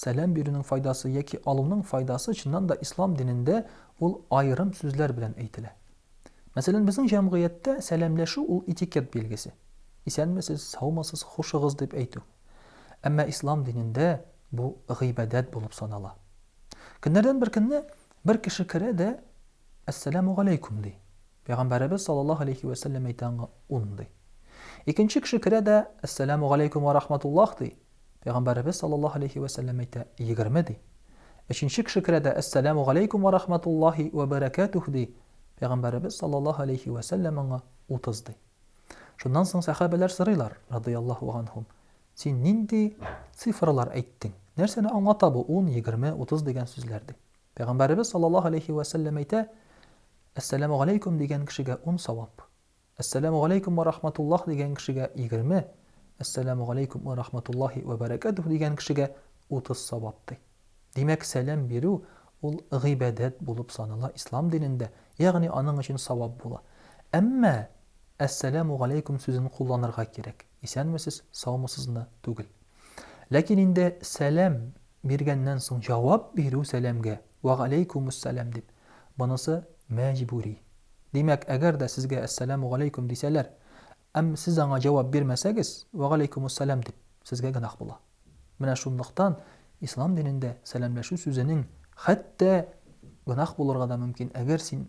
Сәлам бирүнең файдасы яки алуның файдасы чыннан да ислам динендә ул аерым сүзләр белән әйтелә. Мәсәлән, безнең җәмгыятьтә сәламләшү ул этикет билгесе. Исәнмесез, саумысыз, хушыгыз дип әйтү. Әмма ислам динендә бу гыйбадәт булып санала. Көннәрдән бер көнне бер кеше керә дә, Әссәламүгаләйкүм ди. Пәйгамбәребез саллаллаһу алейһи вә сәлләм әйтә аңа, Ун ди. Икенче кеше керә дә, Әссәламүгаләйкүм вә рахматуллаһ ди. Пәйгамбәребез саллаллаһу алейһи вә сәлләм әйтә, егерме, ди. Өченче кеше керә дә, Әссәләмү галәйкүм вә рахматуллаһи вә бәрәкәтүһ, ди. Пәйгамбәребез саллаллаһу алейһи вә сәлләм аңа, утыз, ди. Шуннан соң сәхабәләр сорыйлар, радыйяллаһу ганһум, Син нинди цифралар әйттең? Нәрсәне аңлата бу ун, егерме, утыз дигән сүзләр? ди. Пәйгамбәребез саллаллаһу алейһи вә сәлләм әйтә, Әссәләмү галәйкүм дигән кешегә ун савап. Әссәләмү галәйкүм вә рахматуллаһ дигән кешегә, егерме, Әссәләмү галәйкүм вә рахматуллаһи вә бәрәкәтүһ дигән кешегә, утыз савап, ди. Димәк, сәлам бирү, ул гыйбадәт булып санала ислам динендә, ягъни аның өчен савап була. Әмма Әссәләмү галәйкүм сүзен кулланырга кирәк, исәнмесез, саумысызны түгел. Ләкин инде сәлам биргәннән соң җавап бирү сәламгә, Вәгаләйкүмүссәлам дип. Бонысы мәҗбүри. Димәк, әгәр дә сезгә Әссәләмүгаләйкүм дисәләр, әм сез аңа җавап бирмәсәгез, Вәгаләйкүмүссәлам дип, сезгә гөнаһ була. Менә шунлыктан Ислам динендә сәламләшү сүзенең хәтта гөнаһ булырга да мөмкин, әгәр син